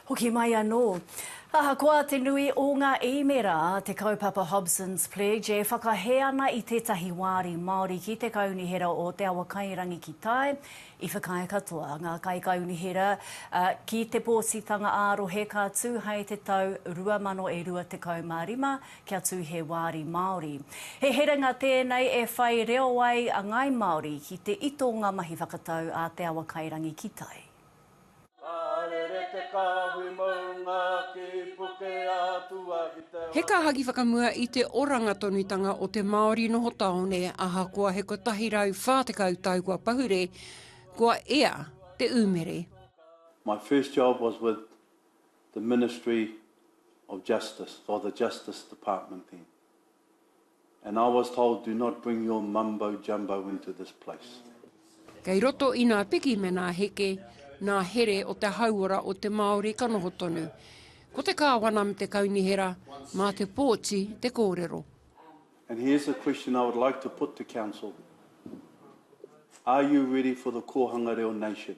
Hoki mai anō. Ahakoa te nui o ngā īmēra a te kaupapa Hobson's Pledge e whakahē ana i tētahi wāri Māori ki te Kaunihera o Te Awakairangi ki tai, i whakaae katoa ngā kaikaunihera ki te pōtitanga ā-rohe ka tū hai te tau 2025 kia tū he wāri Māori. He herenga tēnei e whai reo ai a ngāi Māori ki te ito o ngā mahi whakatau a Te Awakairangi ki tai. He kāhaki whakamua i te oranga tonutanga o te Māori noho tāone ahakoa he 140 tau kua pahure, kua ea te umere. My first job was with the Ministry of Justice, or the Justice Department then. And I was told do not bring your mumbo jumbo into this place. Kei roto i nā piki me nā heke, nā here o te hauora o te Māori ka noho tonu. Ko te kāwana me te kaunihera, mā te pōti te kōrero. And here's a question I would like to put to council, are you ready for the Kōhanga Reo Nation?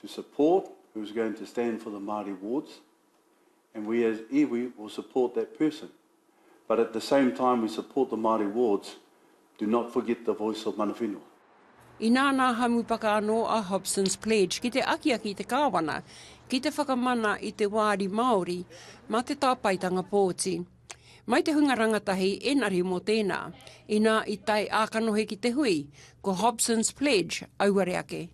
to support who is going to stand for the Māori wards and we as iwi will support that person. But at the same time we support the Māori wards, do not forget the voice of mana whenua. Inā nā Hamupaka anō a Hobson's Pledge ki te akiaki i te Kāwana ki te whakamana i te wāri Māori mā te tāpaetanga pōti. Mai te hunga rangatahi enari mo tena, ina i tae a kanohi ki te hui, ko Hobson's Pledge auare ake.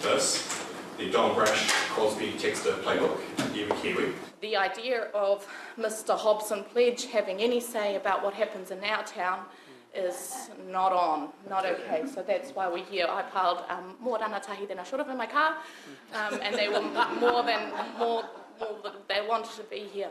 This, the John Brash Crosby Textor Playbook, iwi Kiwi. The idea of Mister Hobson Pledge having any say about what happens in our town is not on, not okay, so that's why we're here. I piled more rangatahi than I should have in my car and they were more than, they wanted to be here.